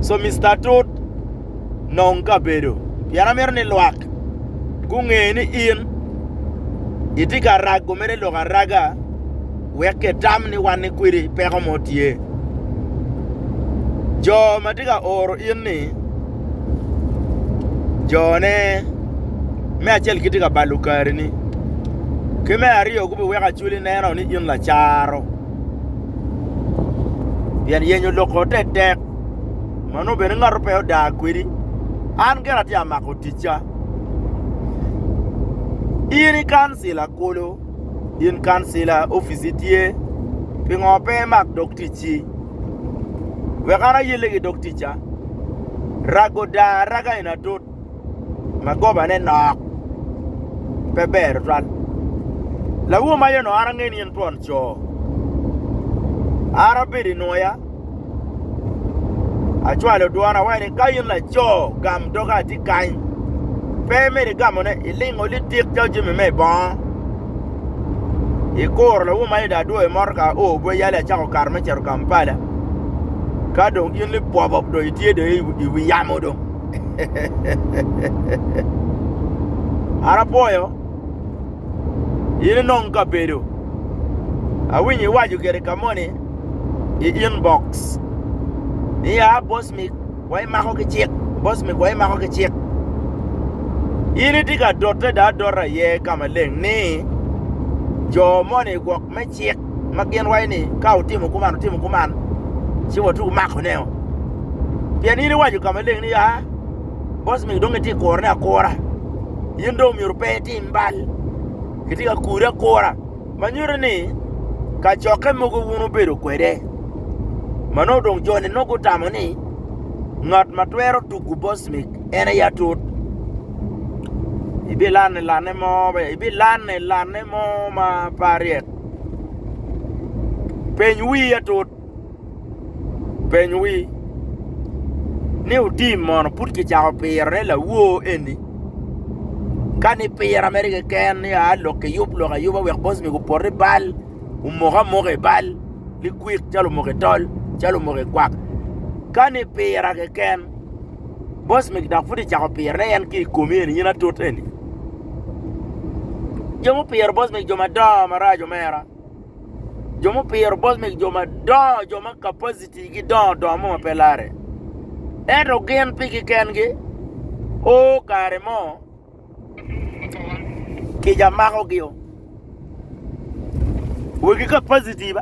So Mister Atut, nong kabedo pien amito ni lwak gunge ni in itye ka rago mere lok araga wek kitam ni wan ni kwedi peko mo tye. Jo ma tye ka oro in ni jone me acel gitye ka balo kari ni ki me aryo gubiweko acwali neno ni in lacaro. pien yenyo lok-ko te tek, ma nongo bene ngato pe odaa kwedi, an gire atye ka mako ticca. In ikancila kulu, in kancila opici tye, pingo pe imak dog ticci? Wek an ayelle ki dog ticca. Rago odaa araga eni atut. ma gobane nok pe ber tutwal. Lawu ma yono ara ngeni in twon co. Ara bedo i nwoya. Acwalo dwon awayo ni ka in laco gam doga ati kany. Pe meri gamo ne ilingo li tik calo jimi me bongo. Ikuro lawu ma yodo adwo i motor ka o bwe yale acako kar me ceto Kampala. Ka dong in li pwobop do itye do i wi yamo do. An apwoyo in inong kabedo. Awinyo iwaco gire ka moni i inbox niya Bosmic wa imako ki cik, Bosmic wa imako ki cik. In itye ka dote dong adota iye ka maleng ni jo moni gwok me cik ma gin waco ni ka wutimo kuman wutimo kuman ci watye wumako ne o pien in iwaco ka maleng ni ya boss mingi dong gitye ka kuro ne akura in dong myero pe itim bal kitye ka kuri akura ma nyuto ni kacokke mogo wun wubedo kwede ma nongo dong jo ni nongo gutamo ni ngat ma twero tugu boss mig en aye atut ibilanne lanne mo be ibilanne lanne mo ma pe aryek. Peny wii atut. Peny wii ni otim mono pud kicako piro ne lawoo eni. Kani pira mere keken ni aa lok ki yub lok ayuba wek boss ni opoti bal, omoko amoka i bal ni kwik calo omoko i tol, calo omoko i kwak. Kani pira keken. Boss megi dok pud icako pirone en ki i komi eni in atut eni. Jo mupiro boss megi jo madongo maraco mera. Jo mupiro boss megi jo madongo jo ma capacity gi dongo dongo mo ma pe lare. Ento gin pigi kengi o kare mo Kica makogio. Wegi ka positive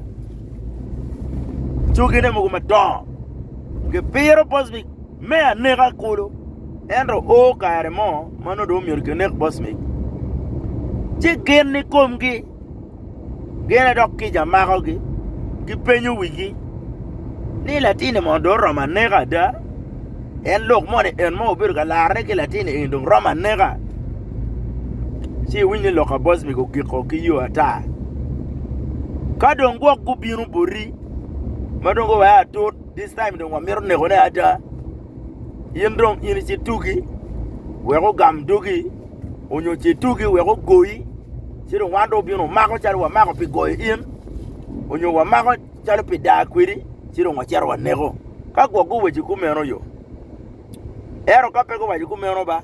cogine mogo madongo gipiro bosmic me aneka kulu ento o kare mo ma nongo dong omyero kinek bosmic ci gin ikomgi Gene dok kica makogi, gipenyo wigi ni, Latin-ni mono dong oromo aneka ada? En lok moni en ma obedo ka larre ki latin eni dong romo aneka? Ci iwiny ni lok pa Bosmic ogiko ki yo ata. Ka dong gwok gubino boti ma dong guweko atut, this time dong wamito nekone ada. In dong in ci tugi wek ogam dogi, onyo ci tugi wek ogoyi, ci dong wan dong wabino wamako calo wamako pi goyo in, onyo wamako calo pi daa kwedi, ci dong wacito waneko. Ka gwok guwaco kumeno yo. Ento ka pe guwaco kumeno ba,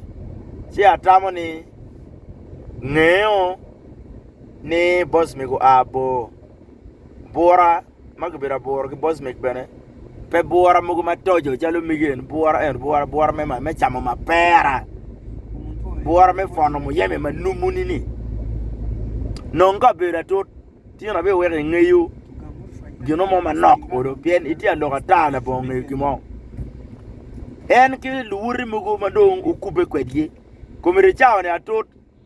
ci atamo ni ngeo ni boss mi gua bor bura. ma kibedo aburu ki bocmek bene pe bura mogo matoco calo mege eni bura eni bura bura me camo mapera bura me pwono muyeme ma numu ni ni nong ka obedo atut tye ni abeweko ingeyo gino mo manok kono pien itye ka lok ata labongo ngeyo gin mo en ki luwote mogo madong okube kwedgi komedi cawa ni atut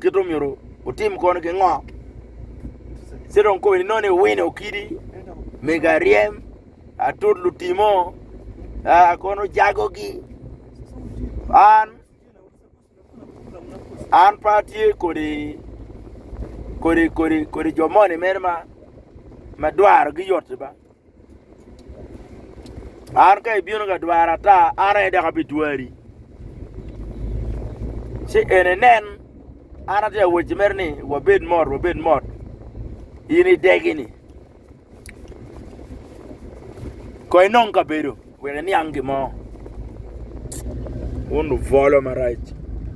kit omyero wutim kono ki ngo ci dong kobo ni nongo ni wino kidi mego aryem atut lutimo aa kono ojago gi an an pe atye kodi kodi kodi kodi jo moni mere ma ma dwaro gi yoti ba An ka ibino ka dwara ata, an aye dok abidwari. Ci en enen, an atye ka wacci mere ni wabed mot, wabed mot in idegi-ni kong inong kabedo wek iniang gin mo. Wun lubwolo marac!